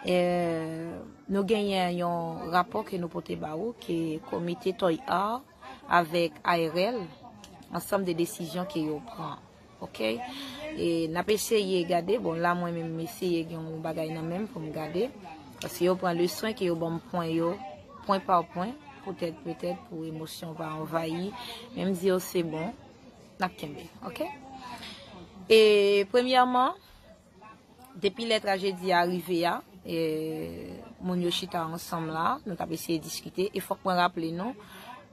E, nou genyen yon rapò ke nou pote ba ou ke komite Toy Art avèk ARL, ansanm de desizyon ke yo pran. Ok? E, n ap eseye gade, bon la mwen menm m eseye gen yon bagay nan menm pou m gade, paske yo pran le swen ke yo ban m pwen yo, pwen pa pwen, poutèt, poutèt pou emosyon pa anvayi, men m di yo se bon, n ap kenbe. Ok? E, premyèman. Depi lè trajedi a rive a, moun yo chita ansanm la, nou t ap eseye diskite, e fòk mwen raple nou,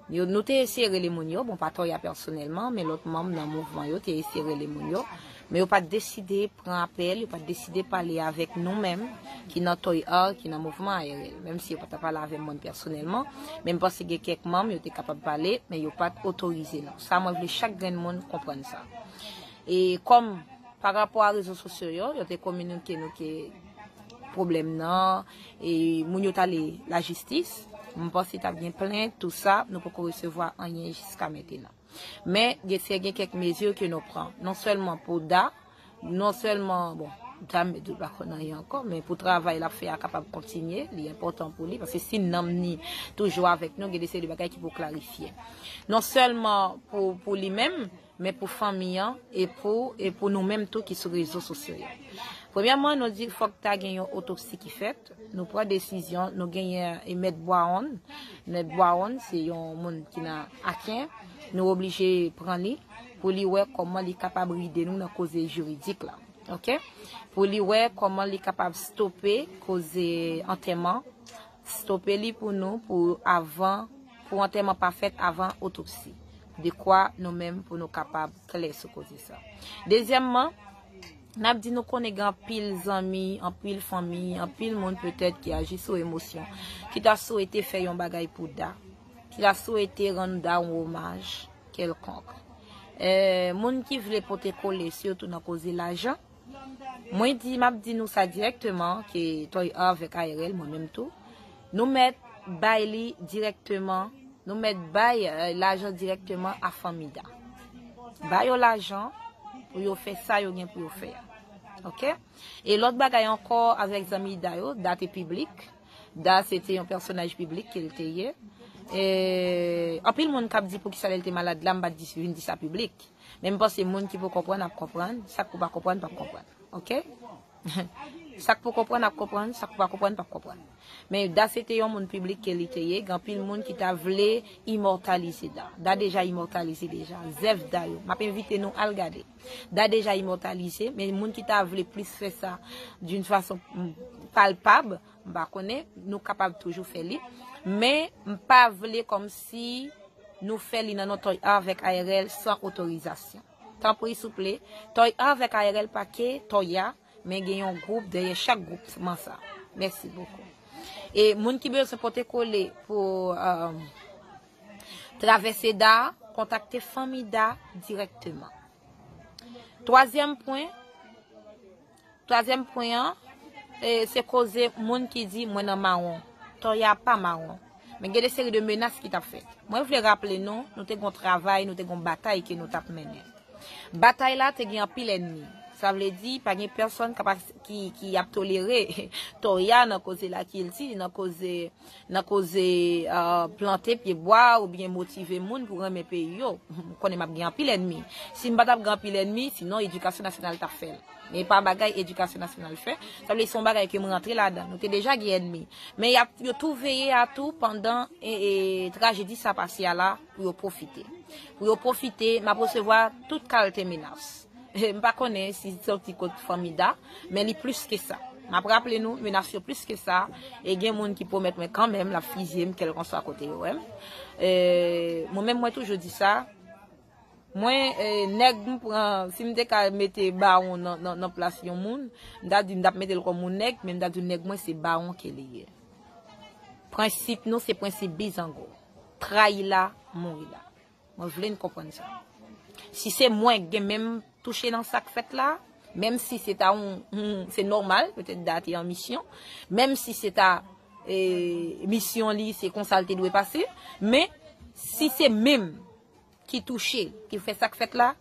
nou te eseye rele moun yo, bon pa Toya pèsonèlman, men lòt manm nan mouvman yo te eseye rele moun yo, men yo pa t deside pran apèl, yo pa t deside pale avèk nou menm ki nan Toy Art, ki nan mouvman ARL. Menm si yo pa t pale avè mwen pèsonèlman, men m panse gen kèk manm, yo te kapab pale, men yo pa t otorize nou. Sa mwen vle chak grenn moun konprann sa. E kòm. Pa rapò a rezo sosyo yo, yo te kominike nou ke pwoblèm nan, e moun yo t ale lajistis. M panse t ap gen plent, tou sa, nou poko resevwa anyen jiska mentenan. Men, gen se gen kèk mezi ke nou pran. Non sèlman pou Da, non sèlman, bon, Da m di l pa konn anyen ankò, men pou travay l ap fè a kapab kontinye, li enpòtan pou li, paske si nanm ni toujou avèk nou, gen de seri de bagay ki pou klarifye. Non sèlman pou li menm, men pou fanmi an e pou e pou nou menm tou ki sou rezo sosyo yo. Premyèman, nou di fòk ta gen yon otopsi ki fèt, nou pran desizyon, nou genyen e mèt Bwaonn, mèt Bwaonn se yon moun ki nan Aken, nou oblije pran li pou li wè kòman li kapab ride nou nan koze jiridik la. Ok. Pou li wè kòman li kapab stope koze antèman, stope li pou nou pou avan, pou antèman pa fèt avan otopsi. dekwa nou menm pou nou kapab klè sou koze sa. Dezyèmman, n ap di nou konnen gen anpil zanmi, anpil fanmi, anpil moun petèt ki aji sou emosyon, ki ta swete fè yon bagay pou Da, ki ta swete rann Da yon omaj kèlkonk. Moun ki vle pote kole, sitou nan koze lajan, Mwen di, map di nou sa direkteman ke Toy avèk ARL mwen menm tou, nou mèt bay li direkteman, nou mèt bay lajan direkteman a fanmi Da. Ba yo lajan pou yo fè sa yo gen pou yo fè a. Ok? E lòt bagay ankò avèk zanmi Da yo, Da te piblik, Da se te yon pèsonaj piblik ke l te ye. E anpil moun kap di poukisa lè l te malad la m pat vin di sa piblik. Men m panse moun ki pou konprann ap konprann, sak pou pa konprann pap konprann. Ok? Sak pou konprann ap konprann, sak pou pa konprann pap konprann. Men Da se te yon moun piblik ke li te ye, gen anpil moun ki ta vle imòtalize Da. Da deja imòtalize deja. Zèv Da yo. Map envite nou al gade. Da deja imòtalize, men moun ki ta vle plis fè sa d'une façon palpable, M pa konnen, nou kapab toujou fè li. Men, m pa vle kòmsi nou fè li nan non Toy Art vèk ARL san otorizasyon. Tanpri souple, Toy Art vèk ARL pa ke Toya, men gen yon gwoup dèyè chak gwoup man sa. Mèsi bokou. E moun ki bezwen pote kole pou travèse Da, kontakte Fanmi Da dirèkteman. Twazyèm pwen. Twazyèm pwen an, se koze moun ki di mwen nan mawon. Tò ya pa mawon. Men gen de seri de menas ki tap fèt. Mwen vle raple nou, nou te gon travay, nou te gon batay ke nou tap mennen. Batay la te gen anpil ènmi. Sa vle di, pa gen pèsòn ki ap tolere tò ya nan koze lakilti, nan koze. nan koze plante pye bwa ou byen motive moun pou renmen peyi yo. M konnen map gen anpil enmi. Si m pa tap gen anpil enmi, si non edikasyon nasyonal tap fè l. Men e pa bagay edikasyon nasyonal fè. Sa vle di se yon bagay ke m rantre ladan. Nou te deja gen enmi. Men yo tou veye a tou pandan trajedi sa pase a la pou yo pwofite. Pou yo pwofite, map resevwa tout kalte menas. M pa konnen si li soti kot fanmi Da, men li plis ke sa. M ap raple nou, menas yo plis ke sa, e gen moun ki pwomèt mwen kanmenm l ap fizye m kèlkanswa kote yo wè m. Mwen menm mwen toujou di sa, mwen nèg m pran, si m te ka mete bawon nan plas yon moun, m ta di m t ap mete l kòm yon nèg, men m ta di nèg mwen se bawon ke li ye. Prensip nou se prensip bizango, trayi la, mouri la. Mwen vle n konprann sa. Si se mwen k gen menm touche nan sa k fèt la, menm si se ta yon, se nòmal, petèt Da te an misyon, menm si se ta misyon li, se konsa l te dwe pase, men, si se menm ki touche, ki fè sa k fèt la,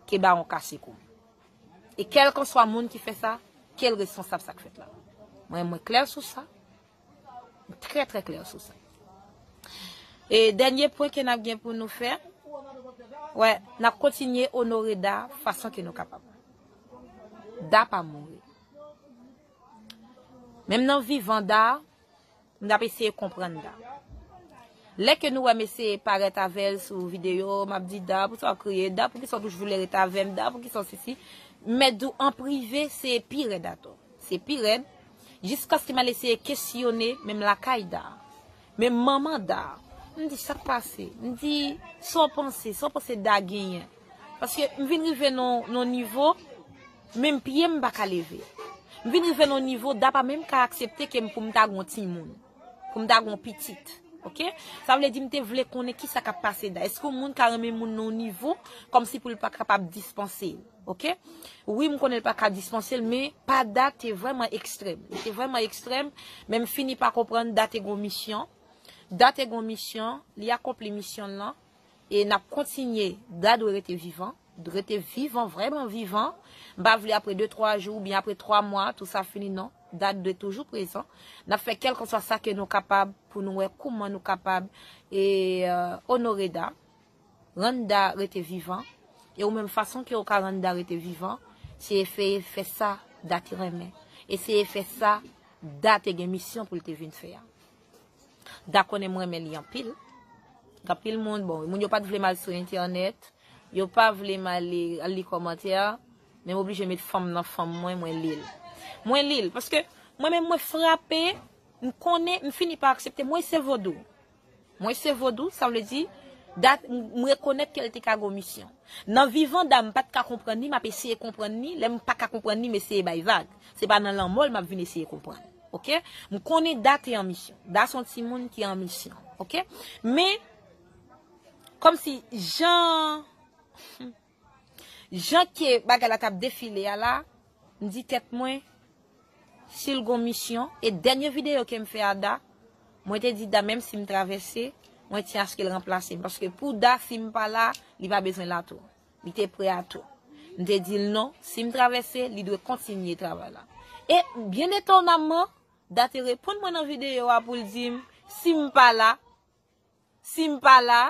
ke bawon kase kou. E kèlkanswa moun ki fè sa, ke l responsab sa k fèt la. Mwen klè sou sa. Trè trè klè sou sa. E dènye pwen ke nap gen pou nou fè, wè, nap kontinye onore Da fason ke nou kapab. Da pa mouri. Menm nan vivan Da, nou ap eseye konprann Da. Lè ke nou wè mesye parèt avèl sou video, map di Da, pou sa w kriye, Da pou ki sa w toujou vle ret avèm, Da pou ki sa w sisi, mèt di w an prive se pi rèd atò. Se pi rèd, jiskaske m al eseye kesyone menm lakay Da, menm manman Da. M di, sa k pase? M di, sa w panse? Sa w panse Da genyen? Paske m vin rive nan yon nivo, menm pye m m pa ka leve. M vin rive nan yon nivo, Da pa menm ka aksepte ke m pou m ta gen yon timoun, pou m ta gen yon pitit. Ok? Sa vle di m te vle konnen ki sa k ap pase Da. Eske yon moun ka renmen yon moun nan yon nivo, kòmsi pou l pa kapab dispanse l? Ok wi m konnen l paka dispanse l men pa Da te vreman ekstrèm li te vreman ekstrèm men m fini pa konprann Da te gon misyon Da te gon misyon li akonpli misyon l lan e nap kontinye Da dwe rete vivan rete vivan vreman vivan m pa vle apre 2 3 jou oubyen apre 3 mwa tou sa fini non Da dwe toujou prezan nap fè kèlkanswa sa ke nou kapab pou nou wè kouman nou kapab e onore Da. Randa rete vivan, e ou menm fason ke ou ka randa rete vivan, se efeye fè sa Da te renmen, eseye fè sa Da te gen misyon pou l te vin fè a. Da konnen m renmen li anpil, anpil moun, bon, moun yo pa t vle m al sou entènèt, yo pa vle m ale al li kòmantè, men m oblije met fanm nan fanm mwen, mwen li l. Mwen li l, paske mwen menm mwen frape, m konnen, m fini pa aksepte, mwen se vodou. Mwen se vodou, sa vle di, dat m rekonèt ke l te ka gon misyon. Nan vivan da m pa t ka konprann li, m ap eseye konprann li, lè m pa ka konprann li m eseye bay vag. Se pa nan lanmò l m ap vin eseye konprann. Ok. M konnen Da te an misyon. Da se yon timoun ki an misyon. Ok. Men, kòmsi jan. Jan ke bagay la tap defile a la, m di tèt mwen, si l gon misyon, e dènye videyo ke m fè a Da, mwen te di Da menm si m travèse, mwen tyen aske l ranplase m, paske pou Da si m pa la, li pa bezwen la tou. Li te pre a tou. M te di l non, si m travèse, li dwe kontinye travay la. E, byen etonamman, Da te reponn mwen nan videyo a pou l di m, si m pa la, Si m pa la,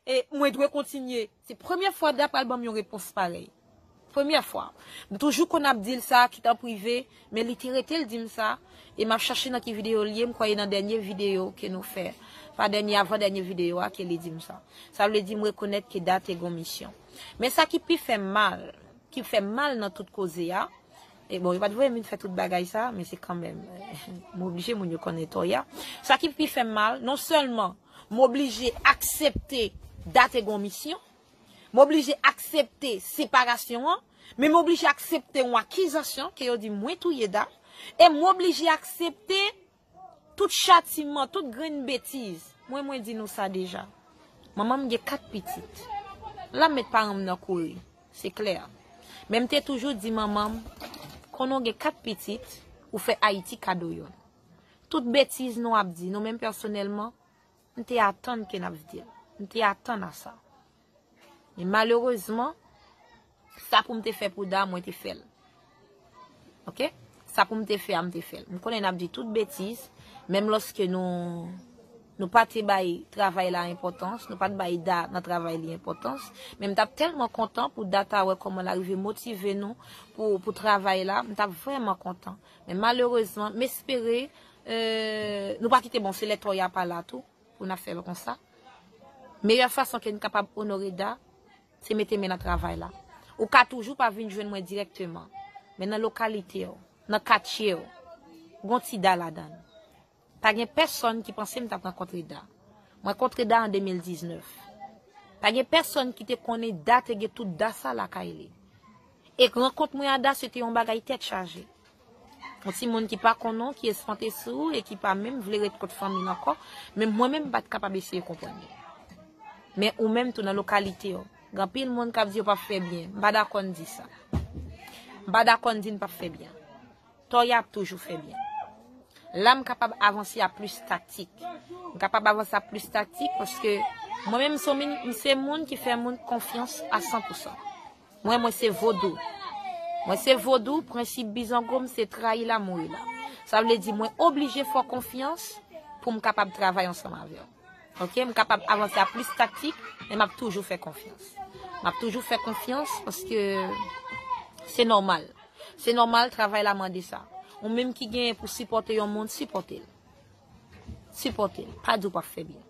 e, mwen dwe kontinye. Se premye fwa Da pral ban m yon repons parèy. Premye fwa. M toujou konn ap di l sa, kit an prive, men li te rete l di m sa, e m ap chache nan ki videyo l ye, m kwè e nan dènye videyo ke nou fè, pa dènye, avan dènye videyo a, ke li di m sa. Sa vle di m rekonèt ke Da te gon misyon. Men sa ki pi fè m mal, ki fè m mal nan tout koze a, E bon, yo pat voye m vin fè tout bagay sa, men se kanmenm, m oblije moun yo konnen tò ya. Sa ki pi fè m mal, non sèlman m oblije aksepte Date gen yon misyon, m oblije aksepte separasyon an, men m oblije aksepte yon akizasyon ke yo di mwen touye Date, e m oblije aksepte Tout chatiman, tout grenn betiz. Mwen mwen di nou sa deja. Manman m gen 4 pitit. La m met paran m nan kouri. Se klè. Men m te toujou di manman m, konnen w gen 4 pitit, ou fè Ayiti kado youn. Tout betiz nou ap di, nou menm pèsonèlman, m te atann ke n ap di l. M te atann a sa. Men malerezman, sa pou m te fè pou Da, mwen te fè l. Ok? Sa pou m te fè a, m te fè l. M konnen n ap di tout betiz, menm lòske nou pa te bay travay la enpòtans, nou pa te bay Da nan travay li enpòtans, men m t ap tèlman kontan pou Da ta wè kòman l arive motive nou pou travay la, m t ap vrèman kontan. Men malerezman, m espere nou pa kite bon se lè tò y a pa la tou. Pou n ap fè l konsa, meyè fason ke n kapab onore Da, se mete men nan travay la. Ou ka toujou pa vin jwenn mwen dirèkteman, men nan lokalite w, nan katye w, gon ti Da ladan l. Pa gen pèsonn ki panse m t ap rankontre Da. Mwen kontre Da an 2019. Pa gen pèsonn ki te konnen Da te gen tout Da sa lakay li. E rankont mwen a Da se te yon bagay tèt chaje. Yon ti moun ki pa konnen w, ki espante sou ou e ki pa menm vle ret kot fanmi l ankò, menm mwen menm m pa t kapab eseye konprann li. Men ou menm tou nan lokalite w, gen anpil moun k ap di yo p ap fè byen. M pa dakò n di sa. M pa dakò n di n p ap fè byen. Tòy a ap toujou fè byen. La m kapab avanse a plis taktik. M kapab avanse a plis taktik paske mwen menm m se yon moun ki fè moun konfyans a san pou san. Mwen mwen se vodou. Mwen se vodou, prensip bizango m se trayi la mouri la. Sa vle di mwen oblije fè w konfyans pou m kapab travay ansanm avè w. Ok, m kapab avanse a plis taktik, men m ap toujou fè konfyans. M ap toujou fè konfyans paske se nòmal. Se nòmal, travay la mande sa. Ou menm ki genyen pou sipòte yon moun, sipòte l. Sipòte l. Pa di w pa p fè byen.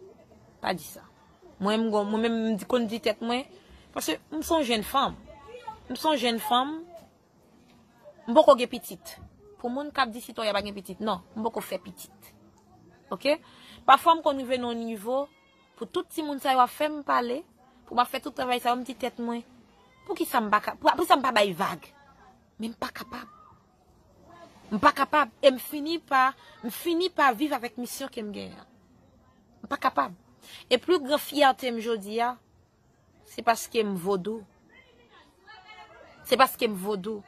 Pa di sa. Mwen menm m konn di tèt mwen, paske m son jenn fanm, m son jenn fanm, m poko gen pitit. Pou moun k ap di Sitoya pa gen pitit, non, m poko fè pitit. Ok? Pafwa m konn rive nan yon nivo, pou tout timoun sa yo ap fè m pale, pou m ap fè tout travay sa yo, m di tèt mwen, poukisa m pa ka, poukisa m pa bay vag? Men m pa kapab. M pa kapab e m fini pa m fini pa viv avèk misyon ke m genyen an. M pa kapab. E pli gran fyète m jodi a, se paske m vodou. Se paske m vodou.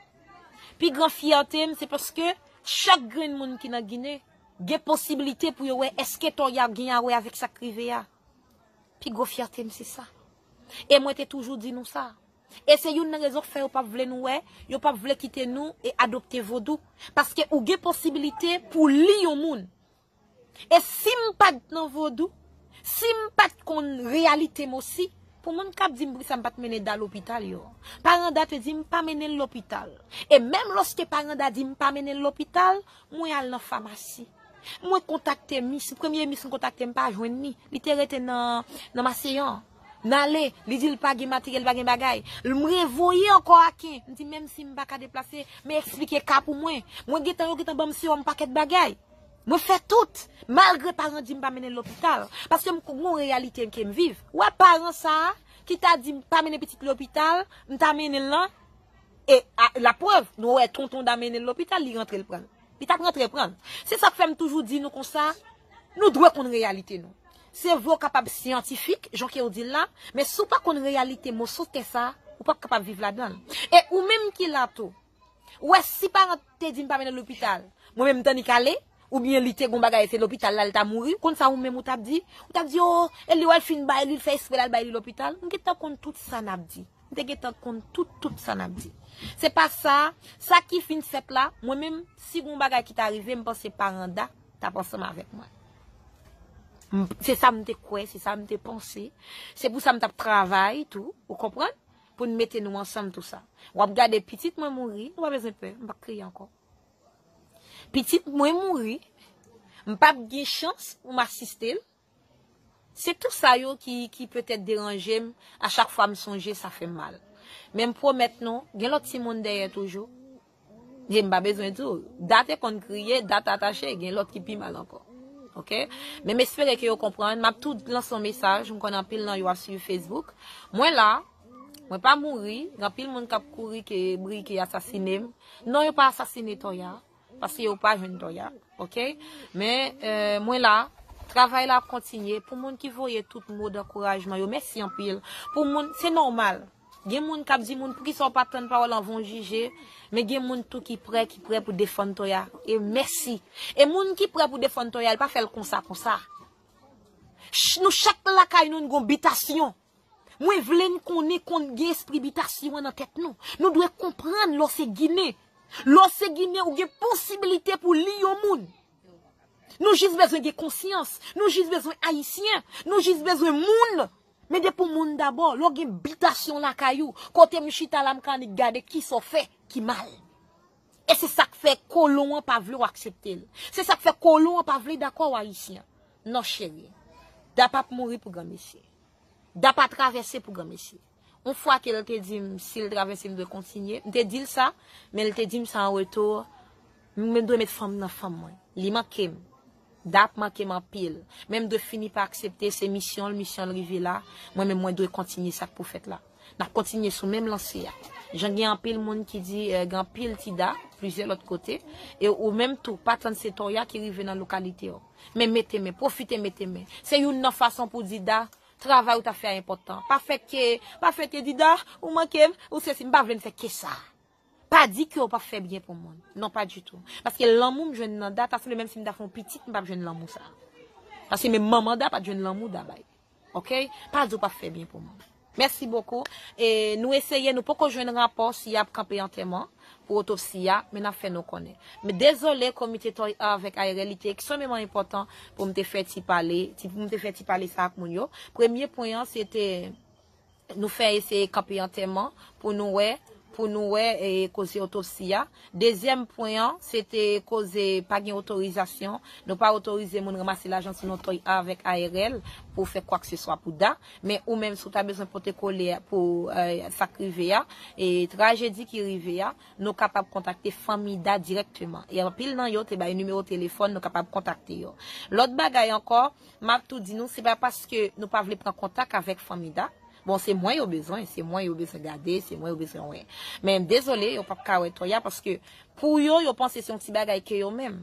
Pi gran fyète m se paske chak grenn moun ki nan Ginen gen posiblite pou yo wè eske to y ap gen a wè avèk sa k rive a. Pi gwo fyète m se sa. E mwen te toujou di nou sa. E se youn nan rezon k fè yo pap vle nou wè, yo pap vle kite nou e adopte vodou. Paske ou gen posibilite pou w li yon moun. E si m pa t nan vodou, si m pa t konn reyalite m osi, pou moun k ap di m poukisa m pa t mennen Da lopital yo. Paran Da te di m pa mennen l lopital. E menm lòske paran Da di m pa mennen l lopital, mwen al nan famasi. Mwen kontakte mis, premye mis m kontakte m pa jwenn ni, li te rete nan maseyan. M ale, li di l pa gen materyèl, pa gen bagay. L m revoye ankò Aken, m di menm si m pa ka deplase, men eksplike ka pou mwen. Mwen gen tan yo gen tan ban m sewòm pakèt bagay. Mwen fè tout, malgre paran di m pa mennen l lopital. Paske m gen yon reyalite ke m viv. Ou wè paran sa a, ki ta di m pa mennen pitit lopital, m ta mennen l lan, e laprèv, nou wè tonton da mennen l lopital, li rantre l pran l. Li tap rantre pran l. Se sak fè m toujou di nou konsa, nou dwe konn reyalite nou. Se vre w kapab syantifik, jan ke w di l la, men si w pa konn reyalite moso tè sa, ou pap kapab viv ladan l. E ou menm ki la tou, ou wè si parent te di m pa mennen l lopital, mwen menm m tannik ale, oubyen li te gon bagay se lopital la li ta mouri, ou konn sa ou menm ou tap di? Ou tap di oo, e li wè l fin bay li, l fè espre l al bay li lopital? M gentan konn tout sa nap di. M te gentan konn tout tout sa nap di. Se pa sa, sa ki fin fèt la, mwen menm, si gon bagay ki ta rive, m panse Paranda tap ansanm avèk mwen. Se sa m te kwè, se sa m te panse. Se pou sa m tap travay tou, ou konprann, pou n mete nou ansanm tou sa. Wap gade pitit mwen mouri, ou pa bezwen pè, m pap kriye ankò. Pitit mwen mouri, m pap gen chans pou m asiste l. Se tou sa yo ki ki petèt deranje m, a chak fwa m sonje sa fè m mal. Men m pwomèt nou, gen lòt timoun dèyè toujou. Ye m pa bezwen di w, Da te konn kriye, Da ta tache, gen lòt ki pi mal ankò. Ok? Men m espere ke yo konprann, m ap tou lanse yon mesaj, m konn anpil nan yo ap swiv Facebook. Mwen la, mwen pa mouri, gen anpil moun k ap kouri ke Briky asasine m. Non yo pa asasine Toya. Paske yo pa jwenn dòy a ok men mwen la. Travay la ap kontinye pou moun ki voye tout mo dankourajman yo mèsi anpil pou moun se nòmal gen moun kap di moun poukisa ou pa tann pawòl anvan ou jije men gen moun tou ki prè ki prè pou defann Toya e mèsi e moun ki prè pou defann Toya l pa fè l konsa konsa nou chak lakay nou n gon bitasyon. Mwen vle n konnen kon gen espri bitasyon an nan tèt nou. Nou dwe konprann lè w se ginen. Lè w se ginen ou gen posibilite pou li yon moun. Nou jis bezwen gen konsyans. Nou jis bezwen ayisyen. Nou jis bezwen moun. Men depi w moun dabò, lè w gen bitasyon lakay ou, kote m chita la m ka annik gade kisa w fè ki mal. E se sa k fè kolon an pa vle w aksepte l. Se sa k fè kolon an pa vle dakò w ayisyen. Non cheri. Da pap mouri pou granmesi. Da pa travèse pou granmesi. On fwa ke l te di m si l travèse m dwe kontinye, m te di l sa, men l te di m sa an retou, m dwe met fanm nan fanm mwen. Li manke m. Da ap manke m anpil. Men m dwe fini pa aksepte se misyon l, misyon l rive la, mwen menm mwen dwe kontinye sa k pou fèt la. N ap kontinye sou menm lanse a. Jan gen anpil moun ki di gen anpil ti Da plizyè lòt kote, e ou menm tou pa tann se Toya ki rive nan lokalite w. Men mete men, pwofite mete men. Se youn nan fason pou di Da, travay ou t ap fè a enpòtan. Pa fè ke, pa fè ke di Da, ou manke m, ou sesi, m pa vle m fè ke sa. Pa di ke ou p ap fè byen pou moun. Non pa ditou. Paske lanmou m jwenn nan Da ta sanble menm si m ta fè yon pitit m p ap jwenn lanmou sa. Paske menm manman Da pa t jwenn lanmou Da bay. Ok pa di ou pap fè byen pou moun. Mèsi bokou e nou eseye nou poko jwenn rapò si yap kanpe antèman pou otopsi a men nap fè nou konnen. M dezole komite Toy a avèk ARL li te eksomeman enpòtan pou m te fè ti pale, ti pou m te fè ti pale sa ak moun yo. Premye pwen an se te. Nou fè eseye kanpe antèman pou nou wè, pou nou wè koze otopsi a. Dezyèm pwen an, se te koze pa gen otorizasyon. Nou pa otorize moun ranmase lajan sou non Toy A avèk ARL pou fè kwakseswa pou Da. Men ou menm si w ta bezwen pote kole pou sa k rive a, trajedi ki rive a, nou kapab kontakte fanmi Da dirèkteman. E anpil nan yo te bay nimewo telefòn nou kapab kontakte yo. Lòt bagay ankò, Map tou di nou se pa paske nou pa vle pran kontak avek fanmi da, bon se mwen yo bezwen, se mwen yo bezwen gade, se mwen yo bezwen wè. Men dezole yo pap ka wè Toya paske pou yo yo panse se yon ti bagay ke yo menm.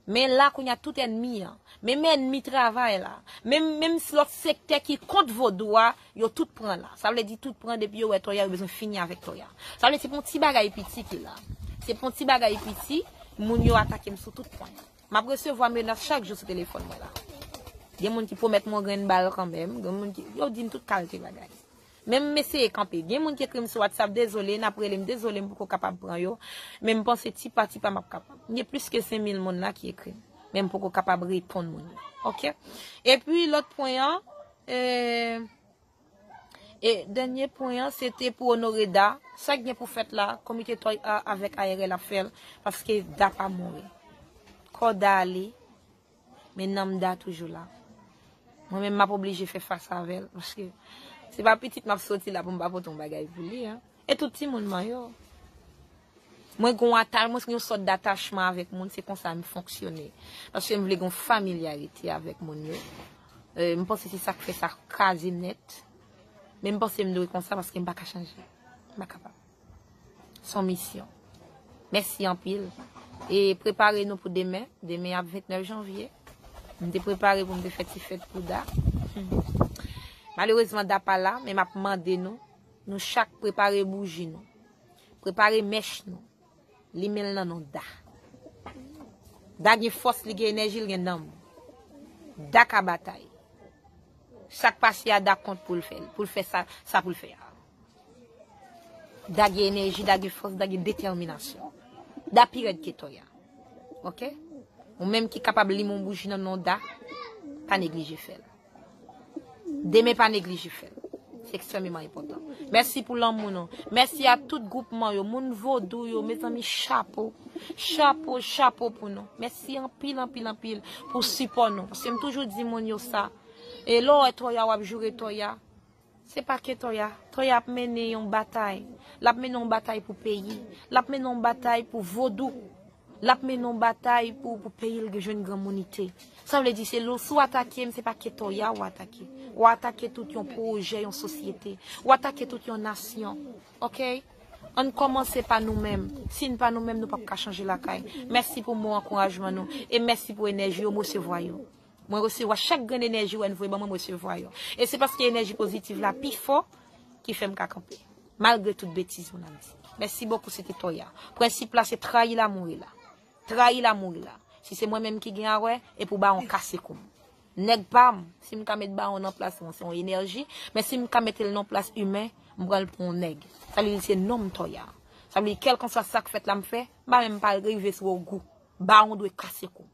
Men la kounya tout enmi an, menm enmi travay la, menm menm lòt sektè ki kont vodou a, yo tout pran la. Sa vle di tout pran depi yo wè Toya yo bezwen fini avek Toya. Sa vle se pou yon ti bagay piti ki la. Se pou yon ti bagay piti moun yo atakem sou tout pwen. Map resevwa menas chak jou sou telefòn mwen la. Gen moun ki pwomèt m yon grenn bal kanmenm, gen moun ki, yo di m tout kalte bagay. Men m eseye kanpe. Gen moun ki ekri m sou WhatsApp, dezole, n ap rele m, dezole m poko kapab pran yo, men m panse ti pa ti pa m ap kapab. Gen plis ke 5000 moun la ki ekri m, men m poko kapab reponn moun yo. Ok. Epi lòt pwen an, e. E dènye pwen an se te pou onore Da. Sa k gen pou fèt la, komite Toy A avèk ARL ap fè l, paske Da pa mouri. Kò Da ale, men nanm Da toujou la. Mwen menm m ap oblije fè fas avè l, paske se pa pitit m ap soti la pou m pa pote yon bagay pou li. E tout timoun mwen yo. Mwen gen yon atach, mwen gen yon sòt datachman avèk moun, se konsa m fonksyone. Paske m vle gen yon familyarite avèk moun yo. M panse se sa k fè sa kraze m nèt. Men m panse m dwe konsa paske m pa ka chanje. M pa kapab. Se yon misyon. Mèsi anpil. E prepare nou pou demen. Demen ap 29 janvye. M te prepare pou m te fè ti fèt pou Da. Malerezman Da pa la, men m ap mande nou. Nou chak prepare bouji nou. Prepare mèch nou. Limen l nan non Da. Da gen fòs, li gen enèji, li gen nanm. Da ka batay. Sa k pase a Da kont pou l fè l, pou l fè sa pou l fè a. Da gen enèji, Da gen fòs, Da gen detèminasyon. Da pi rèd ke Tòya. Ok? Ou menm ki kapab limen yon bouji nan non Da, pa neglije fè l. Demen pa neglije fèl. Se ekstrememan enpotan. Mèsi pou lanmou nou. Mèsi a tout gwoupman yo. Moun vodou yo. Mezanmi chapo. Chapo, chapo pou nou. Mèsi anpil, anpil, anpil pou sipò nou. Paske m toujou di moun yo sa. E lè w wè Toya w ap joure Toya. Se pa ke Toya. Toya ap mennen yon batay. L ap mennen yon batay pou peyi. L ap mennen yon batay pou vodou. L ap mennen yon batay pou peyi l jwenn granmounite. Sa vle di se si w atake m se pa ke Toya ou atake. Ou atake tout yon pwojè, yon sosyete. Ou atake tout yon nasyon. Ok? An n kòmanse pa nou menm. Si n pa nou menm nou pap ka chanje lakay. Mèsi pou mo ankourajman nou. E mèsi pou enèji yo. M resevwa yo. Mwen resevwa chak grenn enèji wè n voye ban mwen m resevwa yo e se paske enèji pozitiv la pi fò ki fè m ka kanpe malgre tout betiz moun ap di mèsi bokou se te toya prensip la se trayi la mouri la trayi la mouri la si se mwen menm ki gen awè e pou bawon kase kou m nèg pa m si m ka met bawon nan plas mwen se yon enèji men si m ka mete l nan plas imen m pran l pou yon nèg sa vle di se non m toya sa vle di kèlkanswa sa k fèt la m fè m pa menm pa rive sou ogou bawon dwe kase kou m.